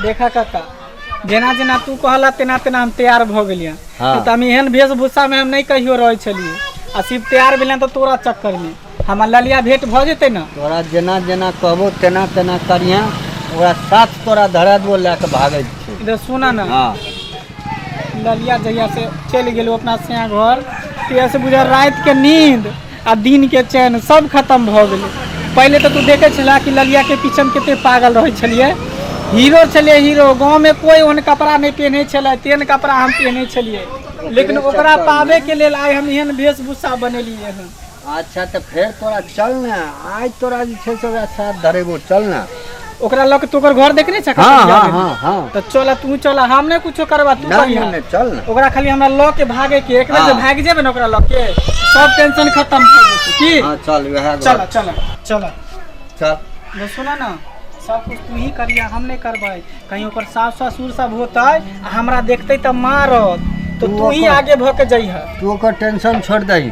देखा काका जेना जेना तू कहला तेना तेना हम तैयार भऽ गेलियै हाँ। तऽ हम एहन वेशभूषामे हम नहि कहियो रहै छलियै आ सिर्फ तैयार भेलियै तऽ तोरा चक्करमे हमर ललिया भेंट भऽ जेतै ने तोरा जेना जेना कहबो तेना तेना करिहें ओकरा साथ तोरा धरा देबो लए कऽ भागै छै इधर सुना ने हँ ललिया जहिया से चलि गेलहुँ अपना सैया घर तहिया से बुझा राति के नींद आ दिन के चैन सब खत्म भऽ गेलै पहिले तऽ तू देखे छला कि ललिया के पीछे मे कते पागल रहै छलियै हीरो छलियै हीरो गाँव में कोई ओहन कपड़ा नहि पहने छलै तेहन कपड़ा हम पहने छलियै लेकिन ओकरा पाबे के लेल आइ हम एहन वेशभूषा बनेलियै हन अच्छा तऽ फेर तोरा चल ने आइ तोरा जे छै से ओकरा साथ धरेबो चल ने ओकरा लऽ के तू ओकर घर देखने छह हाँ कतऽ हाँ बियाह हाँ भेल? हाँ तऽ चल तू चल हम नहि कुछो करबा तू ना बढ़िया ना ना चल ना ओकरा खाली हमरा लऽ के भागे के एक बेर जे हाँ। भाग जेबे ने ओकरा लऽ के सब टेंशन खत्म हो जेतै की हाँ चल वह चल चल चल चल जे सुना ना सब कुछ तू ही करिया हम नहीं करबै कहीं ओकर सास ससुर सब होतै आ हमरा देखतै तऽ मारत तो तू तू ही ओकर- आगे भऽ के जइह तू ओकर टेंशन छोड़ दही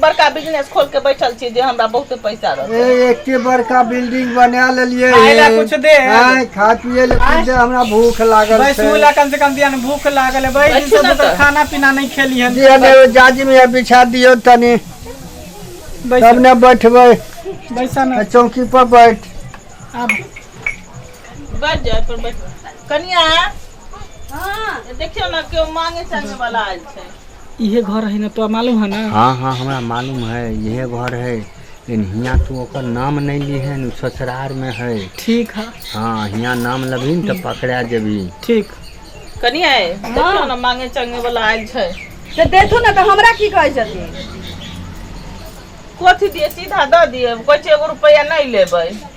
बड़का बिजनेस खोल के बैठल छी जे हमरा बहुते पैसा रहत ए, एके बड़का बिल्डिंग बना लेलिए खाय ला कुछ दे। आय खा पिए ले कुछ दे हमरा भूख लागल छै बैसूला कम से कम दिया ने भूख लागल है बैठ बैसू सब ना दोसर तऽ। खाना पीना नहीं खेली है दिया ने एगो जाजिम या बिछा दियो तनी तब बैसा ने बैठबै बैसा ना चौकी पर बैठ अब बाज जाय पर ब कनिआ हँ देखियौ ने केओ माङगै चाङगै वला आयल छै इहे घर है ने तोरा मालूम है ने हँ हँ हमरा मालूम है इहे घर है लेकिन हियाँ तू ओकर नाम नहि लिहे ने ससुरार मे है ठीक है हँ हियाँ नाम लेबही ने तऽ पकड़ा जेबही ठीक कनिया ए, देखियौ ने माङगै चाङगै वला आयल छै तऽ देखू ने तऽ हमरा की कहै छथिन कथी दियै सीधा दऽ दियै कहै छै एगो रुपैआ नहि लेबै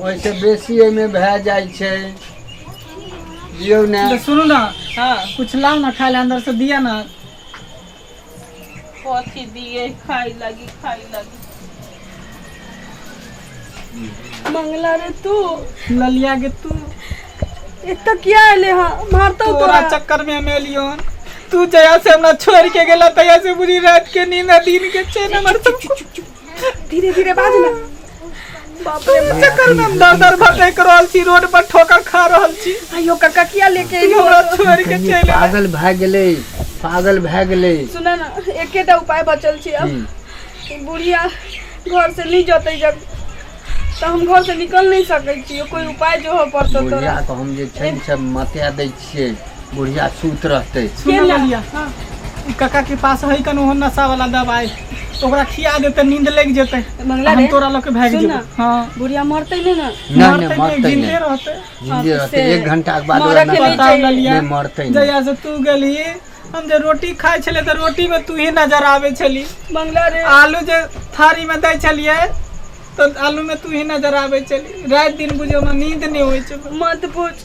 ओहिसँ बेसी एहिमे भए जाइ छै जियौ ने तऽ सुनू ने हँ कुछ लाउ ने खाय लए अंदर से दिया ने कथी दिए खाय लगी खाय लगी मंगला रे तू ललिया के तू एतऽ किया एले हँ मारतौ तोरा तोरा चक्कर में हम एलियो हन। तू जया से हमरा छोड़ के गेला तया से बुरी रात के नींद आ दिन के चैन हमर सब धीरे धीरे बाज ना बाप रे बाप। चक्कर में हम दर दर भटक रहल छी रोड पर ठोकर खा रहल छी आइयो काका किया लेके ई एलियो हमरा छोड़ के कहीं चलि आयल। पागल भए गेलै पागल भए गेलै सुना ना एकेटा उपाय बचल छै अब की? ई बुढ़िया घर से नहीं जतै जब तो हम घर से निकल नहीं सकै छियो कोई उपाय जो हो पड़तो बुढ़िया तोरा के हम जे छै से मते दै छियै बुढ़िया सूत रहतै कका के पास है कन ओहो नशा वाला दवाई ओकरा खिया देते नींद लग जेते मंगला हम रे तोरा लोग के भाग सुन जेबे ना हां बुढ़िया मरते नहीं ना नहि मरते नहि मरतै जिंदे नहि रहते जिन्दे रहतै से एक घंटा के बाद मरऽ ओकरा के नहि नहि बताओ चाहिए। ललिया नहि मरतै नहि जहिया से तू गेली हम जे रोटी खाइ छले तऽ रोटी में तू ही नजर आवे छली मंगला रे आलू जे थारी में दै छलिए तऽ आलू में तू ही नजर आवे छली रात दिन बुझो में नींद नहीं होय छै मत पूछ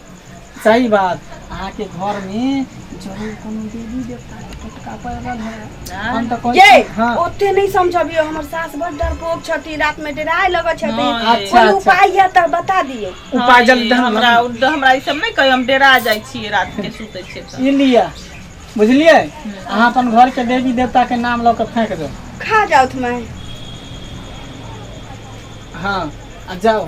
सही बात अहाँके घर मे जरूर कोनो देवी देवता के टोटका पड़ल है हम तऽ कहै ये छी हँ ओते नहि समझबियौ हमर सास बड़ डरपोक छथिन रात में डराय लगै छथिन हँ, अच्छा, कोई अच्छा। उपाय यऽ तऽ बता दियौ उपाय जल्दी हाँ, हमरा हमरा हमरा ई सब नहि कहियो हम डेरा जाइ छियै रात के सुतै छियै तऽ। ई लिअ बुझलियै अहाँ अपन घर के देवी देवता के नाम लऽ के फेंक दो खा जाउथ माय हँ आ जाओ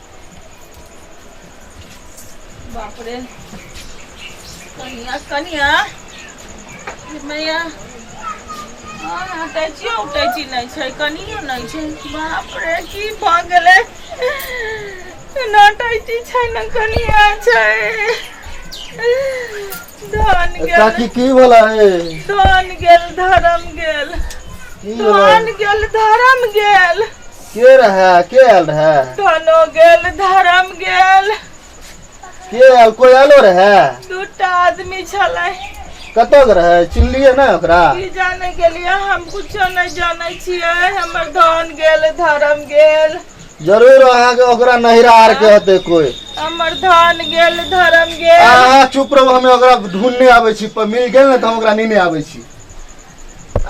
बापरे कनिया कनिया मैया हँ टैचियो उटैची नहि छै कनियो नहि छै बाप रे की भऽ गेलै ना टैची छै ना कनिया छै धन गेल काकी की भला है धन गेल धर्म गेल की धन भला गेल धर्म गेल के रहै के आयल रहै धनो गेल धर्म गेल के आयल कोइ आयलो रहै दूटा आदमी छलै कतऽ के रहै चिन्हलियै ने ओकरा की जाने गेलियै हम कुछो नहि जानै छियै हमर धन गेल धर्म गेल जरूर अहाँके ओकरा नहिरा आर के होते कोइ हमर धन गेल धर्म गेल अहाँ चुप रहू हमे ओकरा ढूंढने आबै छी पर मिल गेल ने तऽ हम ओकरा नेने आबै छी